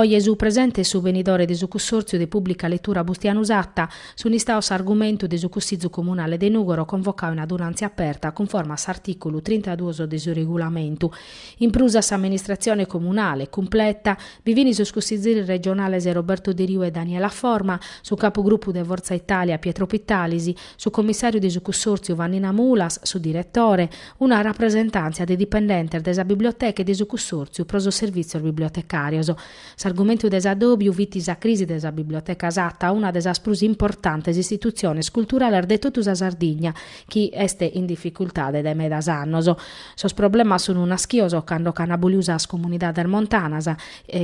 Oje su presente e su venidore de su Cussòrtziu de Pùblica Letura Bustianu Satta sunt istaos s'argumentu de su Cussìtziu Comunale de Nùgoro convocau in adunàntzia aperta cunforma a s'artìculu trintaduos de su Regulamentu In prus a s'amministratzione comunale, cumpleta, bi fin sos cussizieris regionales Roberto Deriu e Daniela Forma, su capugrupu de Fortza Italia Pietro Pittalis, su cummissàriu de su cussòrtziu Vannina Mulas, su diretore, una rapresentàntzia de dipendentes de sa biblioteca e de su cussòrtziu pro sos servìtzios bibliotecàrios. S'argumentu de s'addòbiu fit sa crisi de sa Biblioteca Satta, una de sas prus importantes istitutziones culturales de totu sa Sardigna, chi est in dificultade dae medas annos. Sos problemas sunt naschios cando ch'an aboliu sas comunidades montanas,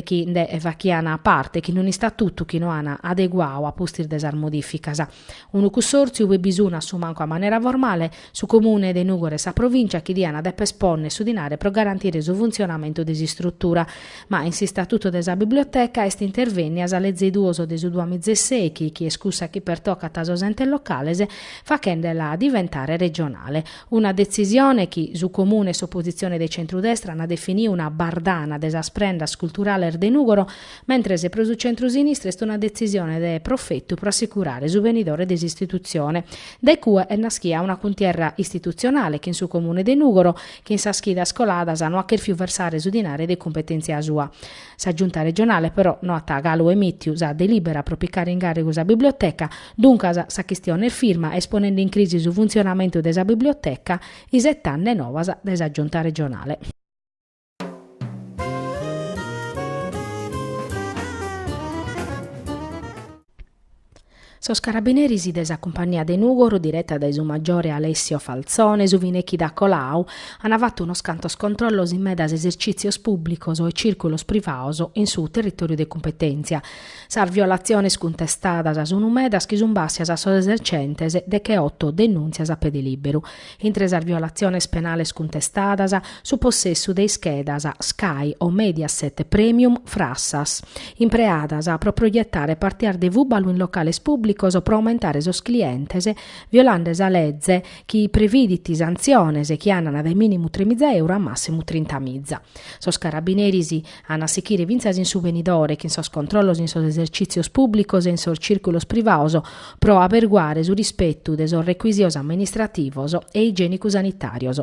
chi nde fachian parte, chin unu istatutu chi no an adeguau a pustis de sas modìficas. Unu cussòrtziu ube bi sunt a su mancu a manera formale, Su Comune de Nùgoro e sa Provìncia chi diant dèpere pònnere su dinare pro garantire su funtzionamentu de s'istrutura. Ma in s'istatutu de sa Biblioteca est intervènnia sa Leze duos de su duamiza e sèichi chi est cussa chi pertocat a sos Entes Locales fachende-la diventare regionale. Una detzisione chi su Comune e s'opositzione de centrudestra ant definiu una bardana de sas prendas culturales de Nùgoro, mentres pro su centru-sinistra est una detzisione de profetu pro assicurare su venidore de s'istitutzione. Dae cue est naschia una cuntierra istitutzionale chin su Comune de Nùgoro, chi in sas chidas coladas no at chèrfiu versare su dinare de cumpetèntzia sua. Sa Giunta regionale però no at galu emìtiu sa delìbera pro picare in càrrigu sa biblioteca, duncas sa chistione est firma e est ponende in crisi su funtzionamentu de sa biblioteca, isetande novas dae sa Giunta regionale. Sos carabineris de sa cumpagnia de Nùgoro, direta dae su maggiore Alessio Falzone, su fine chida colau, an fatu unos cantos controllos in medas esercìtzios pùblicos e cìrculos privados in su territòriu de cumpetèntzia. Sas violatziones cuntestadas sunt medas chi sunt bàssias a sos esercentes decheoto denùntzias a pede lìberu. Intre sas violatziones penales cuntestadas, su possessu de ischedas Sky o Mediaset Premium frassas, impreadas pro proietare partias de fùbalu in locales pùblicos pro aumentare sos clientes, violande sa leze chi previdit santziones chi andan dae mìnimu tremiza euro a màssimu trintamiza. Sos carabineris an a sichire fintzas in su venidore chin sos controllos in sos esercìtzios pùblicos e in sos cìrculos privaos pro aberguare su rispetu de sos recuisios amministrativos e igiènicu-sanitàrios.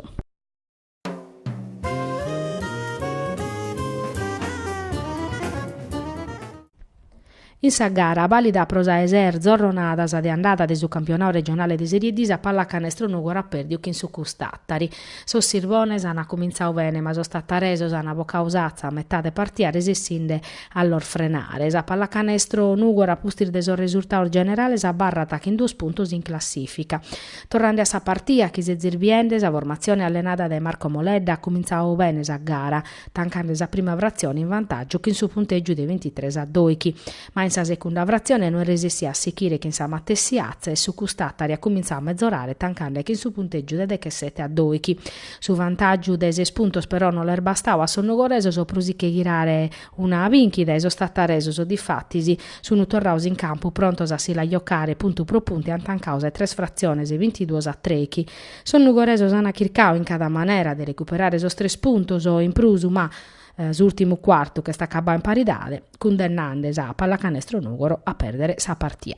In sa gara, vàlida pro sa 'e ses zorronadas de andada de su campionau regionale de Serie D, sa Pallacanestro Nughoro at pèrdiu chin su CUS Tàtari. Sos sirvones ant cumintzadu bene ma sos tattaresos ant bocadu s'atza a metade partida resessinde a los frenare. Sa Pallacanestro Nughoro a pustis de sos resurtados generales abarrat chin duos puntos in classìfica. Torrande a sa partida, chi sezis biende, sa formatzione allenada dae Marco Moledda at cumintzadu bene sa gara. tancande sa prima fratzione in vantàgiu chin su puntègiu de bintitres a doighi, ma in sa segunda fratzione no est resessida a sighire chin sa matessi atza e su CUS Tàtari at cumintzadu a metzorare tancande chin su puntègiu de dechesete a doighi. Su vantàgiu de ses puntos però no l'est bastadu a sos nugoresos pro si che ghirare una bìnchida e sos tataresos difatis sun torrados in campu prontos a si la jocare puntu pro puntu e ant tancadu sa 'e tres fratziones bintiduos a trèighi Sos nugoresos an chircadu in cada manera de recuperare sos tres puntos in prus ma s'ùrtimu cuartu ch'est acabbadu in paridade, cundennande sa Pallacanestro Nùgoro a pèrdere sa partia.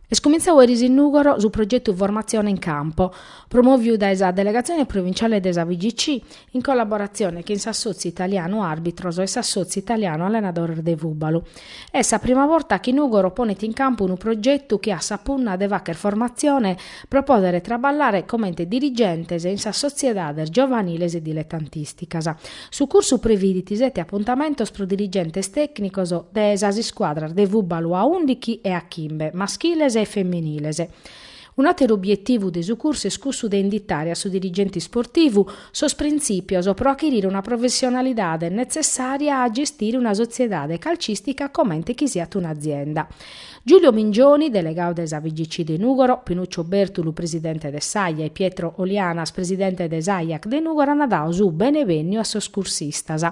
Est cumintzau eris in Nùgoro su progetu Formatzione in Campo, promòviu dae sa Delegatzione Provinciale de sa FIGC in collaboratzione chin s'Assòtziu Italianu Àrbitros e s'Assòtziu Italianu Allenadores de Fùbalu. Est sa prima borta chi Nùgoro ponet in campu unu progetu chi at sa punna de fàghere formatzione pro pòdere traballare comente dirigentes in sas sotziedades giovaniles e diletantìsticas. Su cursu previdit sete apuntamentos pro dirigentes tècnicos de sas iscuadras de fùbalu a undichi e a chimbe, maschiles e feminiles. Un'àteru obietivu de su cursu est cussu de inditare a su dirigente isportivu sos printzìpios pro achirire una professionalidade netzessària a gestire una sotziedade calcìstica comente chi siat un'azienda. Giulio Mingioni, delegadu de sa FIGC de Nùgoro, Pinuccio Bèrtulu, presidente de s'AIA e Pietro Olianas, presidente de s'AIAC de Nùgoro ant dadu su benevènniu a sos cursistas.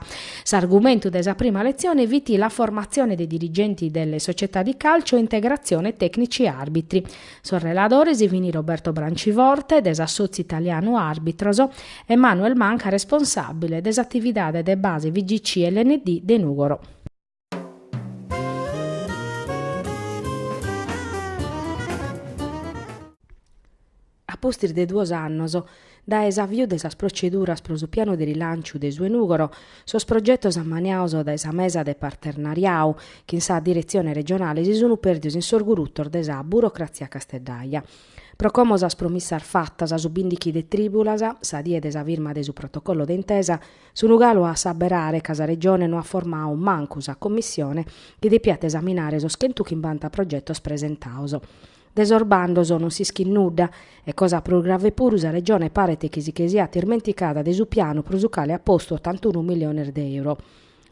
S'argumentu de sa prima letzione fit la formazione dei dirigenti delle società di calcio e integrazione tecnici arbitri. Sos reladores fini Roberto Branciforte, de s'Assotziu Italianu Arbitros, e Manuel Manca, responsàbile de s'atividade de base FIGC LND de Nùgoro. A pustis de duos annos dae s'aviu de sas proceduras pro su pianu de rilanciu de su 'e Nùgoro, sos progetos ammaniados dae sa mesa de parternariadu chin sa diretzione regionale si sunt pèrdidos in sos gurutos de sa burocratzia casteddaja. Pro como sas promissas fatas su bìndighi de trìbulas, sa die de sa firma de su protocollo de intesa, Sunu galu a assaberare ca sa Regione no at formadu mancu sa commissione chi depiat esaminare sos chentuchimbanta progetos presentados. De sos bandos non s'ischit nudda e, cosa prus grave puru, sa Regione paret chi si che siat ismenticada de su pianu pro su cale at postu otantunu milliones de euro.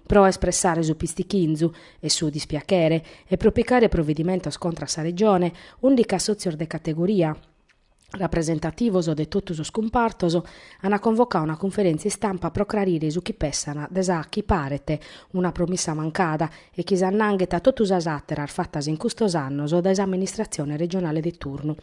Pro espressare su pistichinzu e su dispiachere e pro picare provedimentos contra a sa Regione, ùndichi assòtzios de categoria, rapresentativos de totu sos cumpartos an convocadu una cunferèntzia istampa pro crarire su chi pessan de sa chi paret una promissa mancada e chi s'annanghet a totu sas àteras fatas in custos annos dae s'amministratzione regionale de turnu.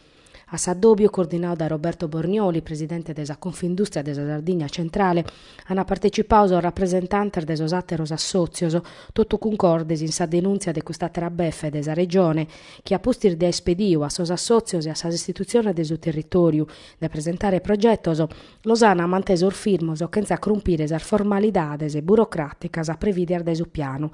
A s'addòbiu, coordinadu dae Roberto Bornioli, presidente de sa Confindùstria de sa Sardigna Centrale, Ant partecipadu sos rapresentantes de sos àteros assòtzios, totu cuncordes in sa denùntzia de cust'àtera befe de sa Regione, chi a pustis de aer pedidu a sos assòtzios e a sas istitutziones de su territòriu de presentare progetos, los ant mantesos firmos chentza crumpire sas formalidades burocràticas previdias dae su pianu.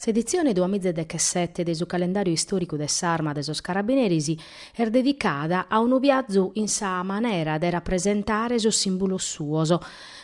S'editzione duamizedechesete de su Calendàriu Istòricu de s'Arma de sos Carabineris est dedicada a unu biazu in sa manera de rapresentare sos sìmbulos suos,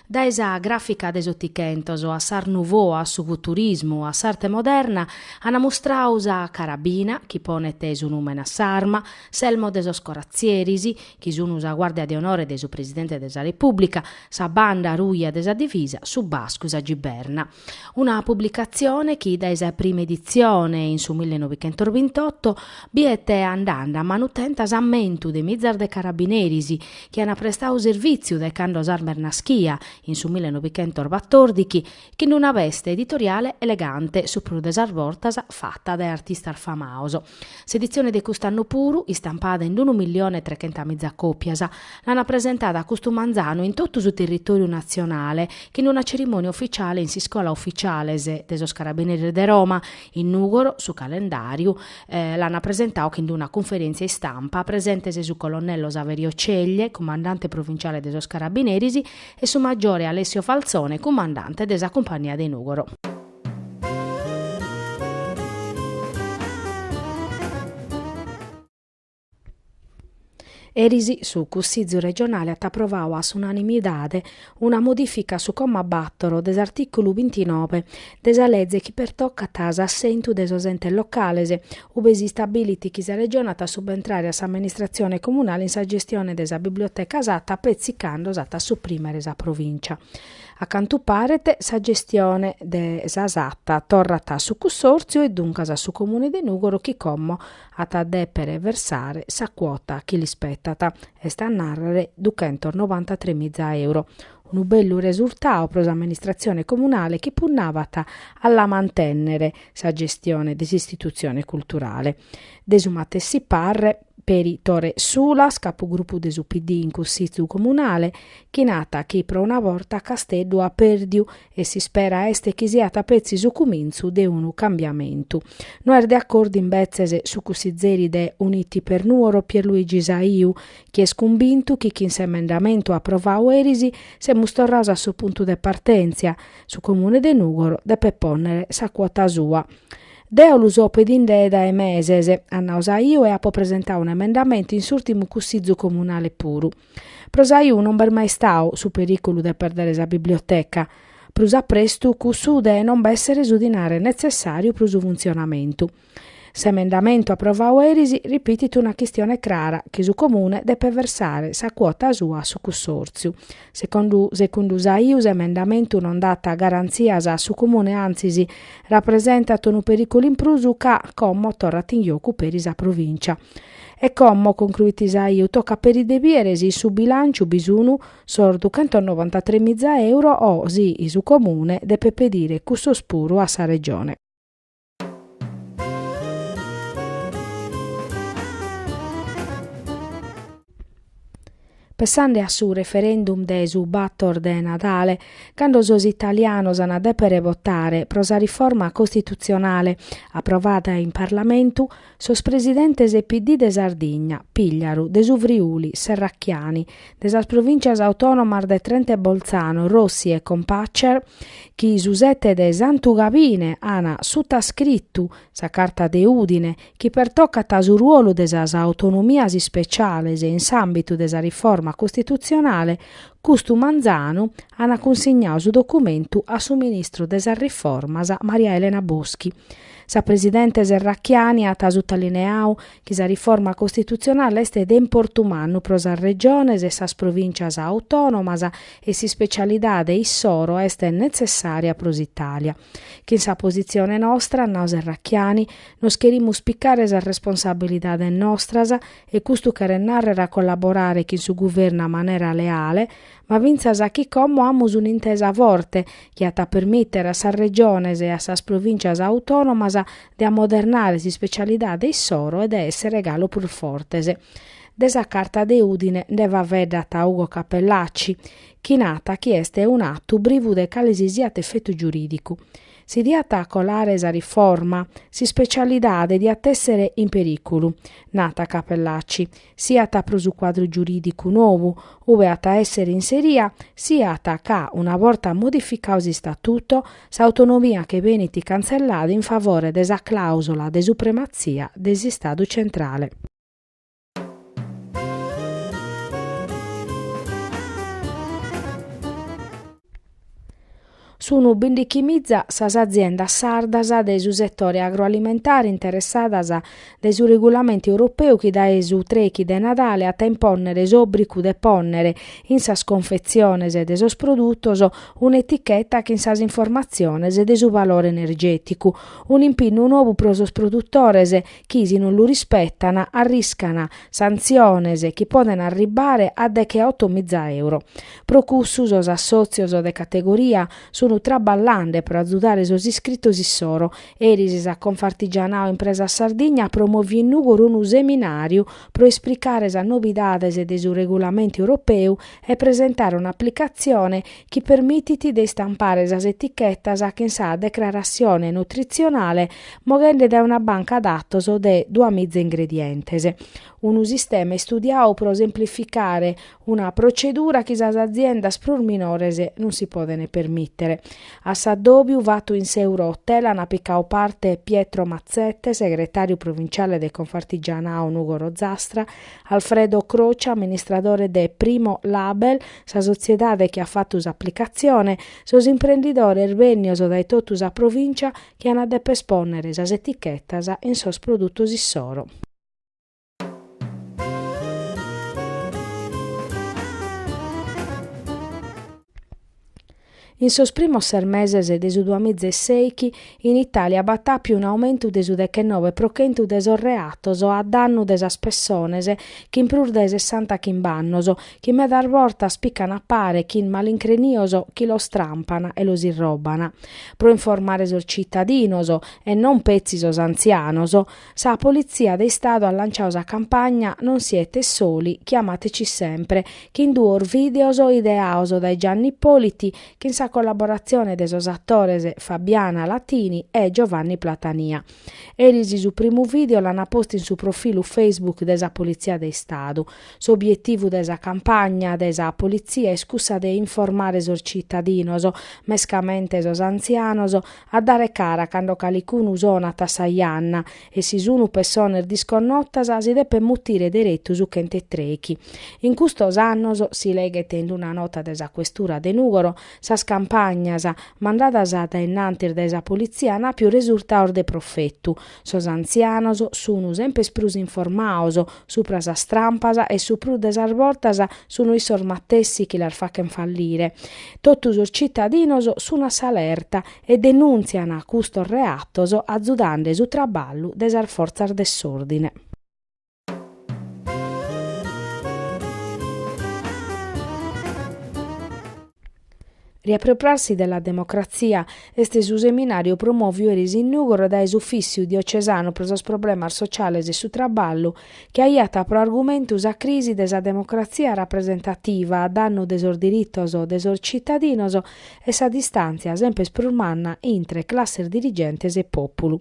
dae sa gràfica de s'Otichentos a s'Art Nouveau a su Futurismu a s'Arte Moderna, ant mustradu sa carabina, chi ponet su nùmene a s'arma, s'elmo de sos coratzieris, chi sunt sa guàrdia de onore de su Presidente de sa Repùblica, sa banda ruja de sa Divisa, su bascu, sa giberna. Una publicatzione chi dae sa prima editzione, in su millenovichentosbintotto, biet andende a manutenta s'ammentu de mizas de carabineris chi ant prestadu servìtziu dae cando s'arma est naschia, in su millenovichentosbatordighi, chin una veste editoriale elegante, su prus de sas bortas fata dae artistas famados. S'editzione de cust'annu puru, istampada in unu millione e trechentamìza còpias, l'ant presentada custu manzanu in totu su territòriu natzionale chin una cerimònia ufitziale in s'Iscola Ufitziales de sos Carabineris de Roma, in Nùgoro, su calendàriu, l'ant presentadu chin una cunferèntzia istampa presentes su colonnello Saverio Ceglie, cumandante provinciale de sos Carabineris, e su maggiore Alessio Falzone, cumandante de sa Cumpagnia de Nùgoro. Eris su Cussìgiu regionale at aprovadu a s'unanimidade una modìfica a su comma bàtoro de s'artìculu bintinove de sa lege chi pertocat s'assentu de sos entes locales, ue si istabilit chi sa Regione at a subentrare a s'amministratzione comunale in sa gestione de sa biblioteca Satta petzi cando s'at a suprimere sa Provìncia. A cantu paret sa gestione de sa SAT torrat a su Cussòrtziu e duncas a su Comune de Nùgoro chi como at a dèpere versare sa cuota chi l'ispetat, est a nàrrere duchentos novantatrè miza euro. Unu bellu resurtau pro s'amministratzione comunale chi punnavat a la mantènnere sa gestione de s'istitutzione culturale. De su matessi parre. peri Tore Sulas, capugrupu de su PD in Cussìtziu Comunale, chi nat chi pro una borta Casteddu at pèrdiu e s'ispera est chi siat petzi su cumintzu de unu cambiamentu. No est de acordu imbetzes su cussizeri de Uniti per Nuoro Pierluigi Saiu, chi est cumbintu chi chin s'emendamentu aprovadu eris semus torrados a su puntu de partèntzia, su Comune de Nùgoro deppet pònnere sa cuota sua. Deo lu so pedinde dae meses, at nau Saiu e apo presentau un'emendamentu in s'urtimu cussizu comunale puru. Pro Saiu non b'est mai istau su periculu de perdere sa biblioteca, prus a prestu cussu de non b'essere su dinare netzessariu pro su funtzionamentu. S'emendamentu aprovau eris ripitit una chistione crara chi su comune depet versare sa cuota sua a su cussòrtziu, Secondu segundu Saiu s'emendamentu non dat garantzias a su Comune antzis rapresentat unu perìculu in prus ca como torrat in jocu peri sa Provìncia. E como, concruit Saiu, tocat peri de bìere si in su bilànciu bi sun sos duchentonobantatrè miza euro o si su Comune depet pedire cussos puru a sa Regione. Pensande a su referendum de su bator de Nadale, cando sos italianos an a dèpere votare pro sa riforma costitutzionale aprovada in Parlamentu, Sos presidentes PD de Sardigna, Pigliaru, de su Friuli, Serracchiani, de sas provìntzias autònomas de Trento e Bolzano, Rossi e Kompatscher, chi su sete de Santu Gabine an sutascritu sa Carta de Udine chi pertocat su ruolu de sas autonomias ispeciales in s'àmbitu de sa riforma costitutzionale, custu manzanu an cunsignau su documentu a su ministru de sas Riformas, Maria Elena Boschi. Sa presidente Serracchiani at sutalineau chi sa riforma costitutzionale est de importu mannu pro sas Regiones e sas Provìncias autònomas e s'ispecialidade issoro est netzessària pro s'Itàlia. Chin sa positzione nostra, at nau Serracchiani, nos cherimus picare sas responsabilidades nostras e custu cheret nàrrere a collaborare chin su Guvernu a manera leale, ma fintzas a chi commo amus un'intesa forte chi at a permìtere a sas Regiones e a sas Provìncias autònomas de amodernare s'ispecialidade issoro e de èssere galu prus fortes. De sa Carta de Udine nde faveddat Ugo Cappellacci, chi narat chi est un'atu privu de calesisiat efetu giurìdicu. Si diat colare sa riforma, s'ispecialidade diat èssere in perìculu, narat Cappellacci, siat pro su cuadru giurìdicu nou ue at a èssere inseria, siat ca, una borta modificau s'Istatutu, s'autonomia che benit cantzellada in favore de sa clàusula de suprematzia de s'Istadu centrale. Sunu bindichimiza sas aziendas sardas de su setore agroalimentare interessadas dae su regulamentu europeu chi dae su trechi de Nadale at a impònnere s'òbricu de pònnere in sas confetziones de sos produtos un'eticheta chin sas informatziones de su valore energèticu, un'impinnu novu pro sos produtores chi, si non lu rispetan, arriscan santziones chi podent arribare a decheoto miza euro. Pro cussu sos assòtzios de categoria sunu traballande pro azudare sos iscritos issoro. Eris sa Confartigianao Impresa Sardigna at promòviu in Nùgoro unu seminàriu pro isplicare sas nobidades de su regulamentu europeu e presentare un'aplicatzione chi permitit de istampare sas etichetas chin sa declaratzione nutrizionale moghende dae una banca datos de duamiza ingredientes. Unu sistema istudiau pro semplificare una procedura chi sas aziendas prus minores non si podent permìtere. A s'addòbiu fatu in s'Euro-Hotel an picau parte Pietro Mazzette, segretàriu provinciale de Confartigianao Nùgoro Ozastra, Alfredo Croce, amministradore de Primo Label, sa sotziedade chi at fatu s'aplicatzione, sos imprendidores bènnios dae totu sa provìncia chi an a deper espònnere sas etichetas in sos produtos issoro. In sos primos ses meses de su duamizeseichi in Itàlia b'at àpiu un'aumentu de su dechennove pro chentu de sos reatos a dannu de sas pessones chin prus de sessanta chimb'annos, chi medas bortas pican a pare chin malincrinios chi los trampan e los irroban. Pro informare sos citadinos, e non petzi sos antzianos, Sa Politzia de Istadu at lanciau sa campagna Non siete soli, chiamateci sempre, chin duos videos ideaos dae Gianni Ippoliti chin sa collaboratzione de sos attores Fabiana Latini e Giovanni Platania. Eris su primu video l'ana postu in su profilu Facebook de sa Politzia de Istadu. S'obietivu de sa campagna de sa Politzia est cussa de informare sos cittadinos, mescamente sos antzianos, A dare cara cando calicunu sonat a sa janna e si sunu pessones disconnotas si depet mutire deretu su chent'e trechi. In custos annos, si leghet in una nota de sa Questura de Nùgoro, sas campagnas mandadas a dae innantis dae sa politzia an àpiu resurtados de profetu, Sos antzianos sun sempes prus informaos supra sas trampas e su prus de sas bortas sun issos matessi chi las fachen fallire. Totu sos cittadinos sun a s'alerta e denuntzian custos reatos azudande su traballu de sas fortzas de s'ordine. Riappropriarsi della democrazia est su seminàriu promòviu eris in Nùgoro dae s'Ufìssiu diocesanu pro sos problemas sociales e su traballu, chi aiat pro argumentu sa crisi de sa democratzia rapresentativa a dannu de sos diritos de sos citadinos e sa distàntzia sempes prus manna intre classes dirigentes e pòpulu.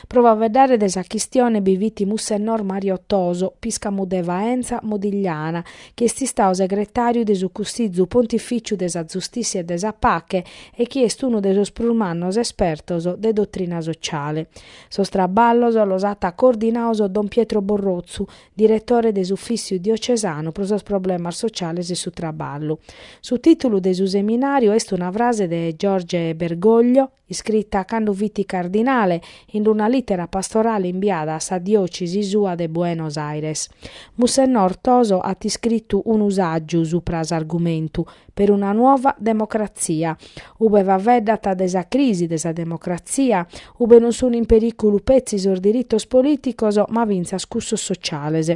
Pro faveddare de sa chistione bi fit Mussenor Mario Toso, piscamu de Faenza Modigliana, chi est istau segretàriu de su Cussizu Pontifìciu de sa Zustìtzia e de sa Pache e chi est unu de sos prus mannos espertos de dotrina sociale. Sos traballos los at coordinaos don Pietro Borrotzu, diretore de s'Ufìssiu Diocesanu pro sos Problemas Sociales e su Traballu. Su tìtulu de su seminàriu est una frase de Jorge Bergoglio, iscrita cando fit cardinale in una lìtera pastorale imbiada a sa diòcesi sua de Buenos Aires. Mussennor Toso at iscritu unu sàgiu supra s'argumentu Per una nuova democrazia, ube faveddat de sa crisi de sa democratzia, ube non sunt in perìculu petzi sos diritos polìticos ma fintzas cussos sociales.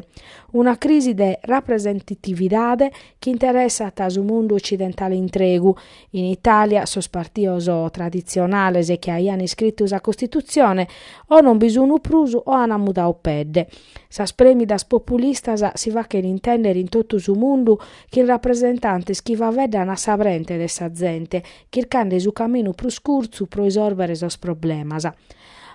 Una crisi de rapresentatividade chi interessat su mundu ocidentale intregu. In Itàlia, sos partios traditzionales chi aian iscritu sa Costitutzione o non bi sun prus o an mudau pedde. Sas prèmidas populistas si fachen intèndere in totu su mundu chin rapresentantes chi faveddan a sa brente de sa zente, chircande su caminu prus curtzu pro isòrbere sos problemas.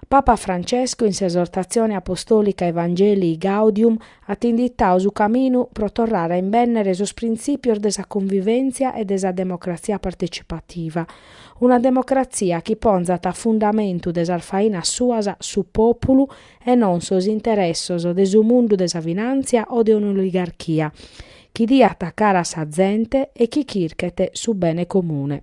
Papa Francesco in s'esortatzione apostòlica Evangelii Gaudium at inditadu su caminu pro torrare a imbènnere sos printzìpios de sa cunvivèntzia e de sa democratzia partecipativa, una democratzia chi ponzat a fundamentu de sas fainas suas su pòpulu e non sos interessos de su mundu de sa finàntzia o de un'oligarchia, chi diat cara a sa zente e chi chirchet su bene comune.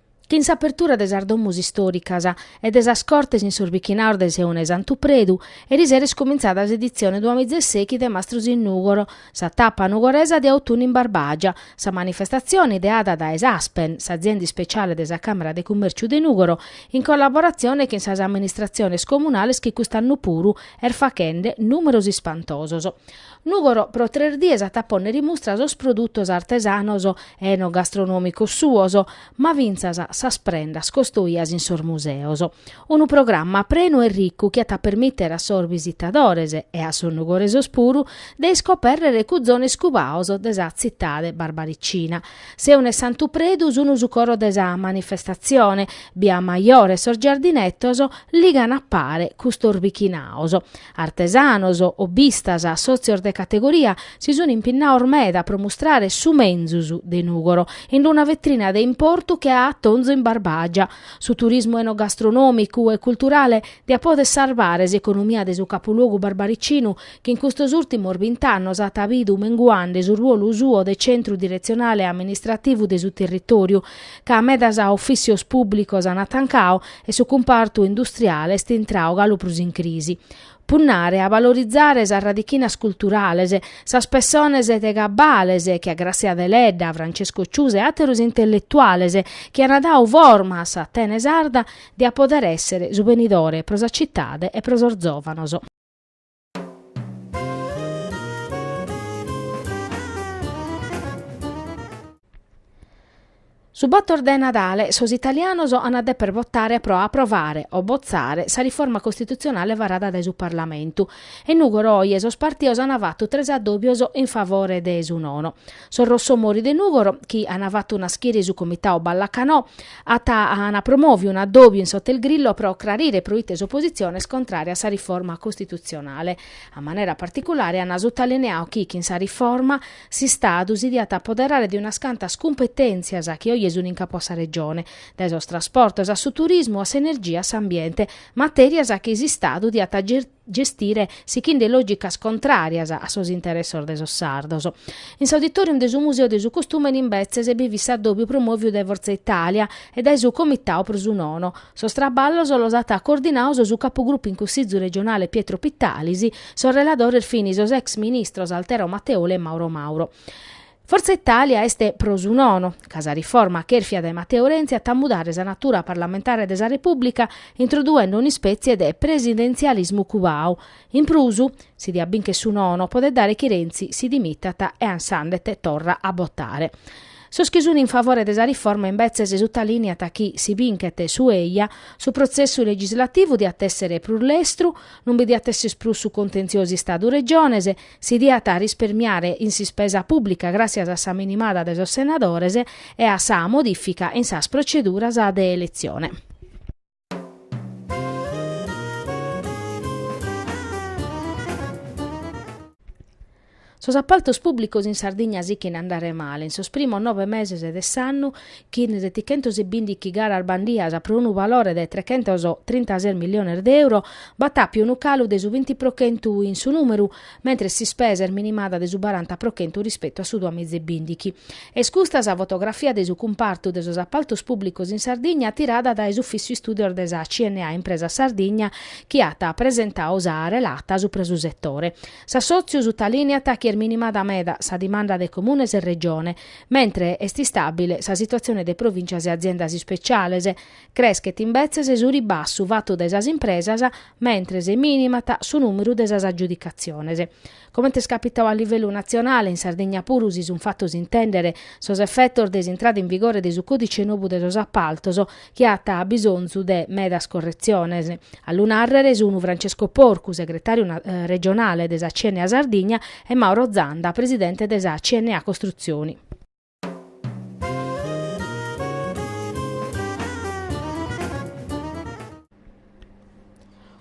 Chin s'apertura de sas domus istòricas e de sas cortes in sos bichinaos de Seuna e Santu Predu, eri sera est comintzada s'editzione duamizasèichi de Mastros in Nùgoro, sa tapa nugoresa de Autunnu in Barbàgia. Sa manifestatzione ideada dae s'Aspen, s'azienda ispeciale de sa Càmera de Cummèrciu de Nùgoro, in collaboratzione chin sas amministratziones comunales chi cust'annu puru est faghende nùmeros ispantosos, Nùgoro pro tres dies at a pònnere in mustra sos produtos artesanos e enogastronòmicos suos, ma fintzas sas prendas costoias in sos museos. Unu programma prenu e ricu chi at a permìtere a sos bisitadores, e a sos nugoresos puru, de iscopèrrere cuzones cubaos de sa tzitade barbaricina. Seuna e Santu Predu sun su coro de sa manifestatzione, Bia Majore e sos giardinetos ligan a pare custos bichinaos. Artesanos, hobbistas, sòtzios de categoria si sunt impinnaos meda pro mustrare su menzus de Nùgoro in una vetrina de importu che Atonzo in Barbàgia. Su turismu enogastronomicu e culturale diat poder sarvare s'economia de su capuluogu barbaricinu chi in custos ùrtimos bint'annos at bidu menguande su ruolu suo de centru diretzionale e amministrativu de su territòriu ca medas ofìcios pùblicos ant tancau e su cumpartu industriale est intrau galu prus in crisi. Punnare a valorizare sas radichinas culturales, sas pessones de gabbale che a Grazia Deledda, Francesco Ciusa e àteros intelletuales chi ant dau forma a s'Atene sarda diat pòdere èssere su benidore pro sa citade e pro sos zòvanos. Su bàtor de Nadale sos italianos an a deper votare pro aprovare o botzare sa riforma costitutzionale varada dae su Parlamentu e in Nùgoro oje sos partios an fatu tres addòbios in favore de su nono. Sos Rossomori de Nùgoro, chi ana fatu naschire su Comitau Ballacanò, ana promòviu un'addòbiu in s'Hotel Grillo pro crarire proite s'opositzione est contrària a sa riforma costitutzionale. A manera particulare ana sutalineau chi chin sa riforma s'Istadu si diat apoderare de unas cantas cumpetèntzias chi oje sun in capu a sa Regione, dae sos trasportos a su turismu a s'energia a s'ambiente, matèrias chi s'Istadu diat gestire sichinde lògicas contràrias a sos interessos de sos sardos. In s'auditorium de su Museu de su Costùmene imbetzes bi fit s'addòbiu promòviu dae Forza Italia e dae su Comitau pro su Nono. Sos traballos los at coordinaos su capugrupu in Cussizu regionale Pietro Pittalis, sos reladores fin sos ex ministros Altero Matteoli e Mauro Mauro. Forza Italia est pro su nono, ca sa riforma cherfia dae Matteo Renzi at a mudare sa natura parlamentare de sa Repùblica introduende un'ispètzie de presidentzialismu cubau. In prus, si diat bìnchere su nono, podet dare chi Renzi si dimitat e s'andet torra a botare. Sos chi sunt in favore de sa riforma imbetzes sutalìneant chi, si binchet su eja, su protzessu legislativu diat èssere prus lestru, non bi diat èssere prus su contenziosu Istadu-Regiones, si diat risparmiare in s'ispesa pùblica gràssias a sa minimada de sos senadores e a sa modìfica in sas proceduras de eletzione. Sos apaltos pùblicos in Sardigna sichen a andare male, in sos primos nove meses de s'annu chin setichentos e bindighi garas bandias pro unu valore de trechentos trintases miliones de euro, b'at àpiu unu calu de su binti pro chentu in su nùmeru, mentres s'ispesa est minimada de su baranta pro chentu rispetu a su duamiza e bindighi. Est custa sa fotografia de su cumpartu de sos apaltos pùblicos in Sardigna tirada dae s'Ufìssiu Istùdios de sa CNA Impresa Sardigna chi at presentau sa relata subra su setore. S'assòtziu sutalìneat chi est minimada meda sa dimanda de comunes e Regione, mentres est istàbile sa situatzione de provìncias e aziendas ispeciales, creschet imbetzes su ribassu fatu dae sas impresas, mentres minimat su nùmeru de sas agiudicatziones. Comente est capitau a livellu natzionale, in Sardigna puru si sunt fatos intèndere sos efetos de s'intrada in vigore de su còdice nobu de sos apaltos, chi at bisonzu de medas corretziones. A lu nàrrere sun Francesco Porcu, segretàriu regionale de sa CNA Sardigna e Mauro Zanda, presidente de sa CNA Costruzioni.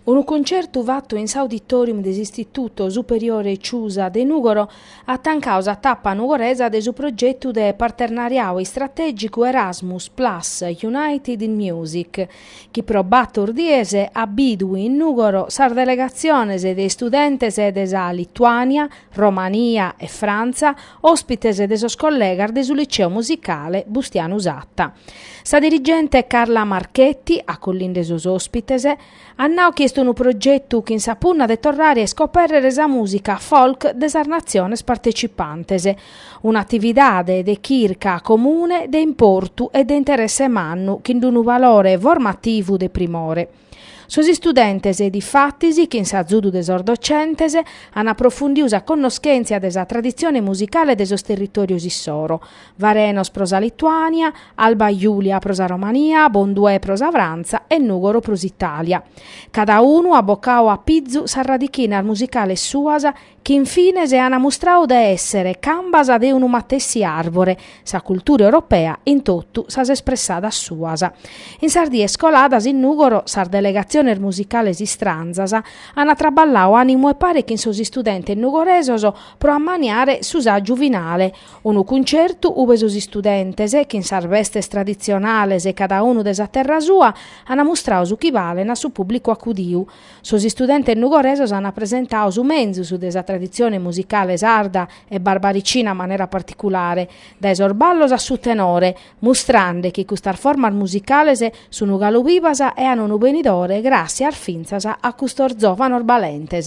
Unu concertu fatu in s'auditorium de s'Istituto Superiore Ciusa de Nùgoro at tancau sa tapa nugoresa de su progetu de parternariadu istratègicu Erasmus Plus United in Music, chi pro bator dies at bidu in Nùgoro sas delegatziones de istudentes de sa Lituània, Romania e Frantza, òspites de sos collegas de su Liceu Musicale Bustianu Satta. Sa dirigente Carla Marchetti, acollinde sos òspites, at nau chi est unu progetu chin sa punna de torrare a iscopèrrere sa mùsica folk de sas natziones partecipantes, un'atividade de chirca comune de importu e de interesse mannu chin d'unu valore formativu de primore. Sos istudentes e difatis, chin s'azudu de sos docentes, an aprofundiu sa connoschentzia de sa traditzione musicale de sos territòrios issoro, Varenos pro sa Lituània, Alba Julia pro sa Romania, Bonduè pro sa Frantza e Nùgoro pro s'Itàlia. Cadaunu at bocau a pizu sas radichinas musicales suas chi in fines an mustrau de èsser cambas de unu matessi àrbore, sa cultura europea in totu sas espressadas suas. In sas dies coladas in Nùgoro sas delegatziones musicales istranzas an traballau a manu 'e pare chin sos istudentes nugoresos pro ammaniare su sàgiu finale, unu cuncertu ube sos istudentes, chin sas bestes traditzionales cadaunu de sa terra sua, an mustrau su chi balen a su pùblicu acudiu. Sos istudentes nugoresos an presentau su menzus de sa traditzione musicale sarda e barbaricina in manera particulare, dae sos ballos a su tenore, mustrande chi custas formas musicales sun galu bivas e an unu benidore gràssias fintzas a custos zòvanos balentes.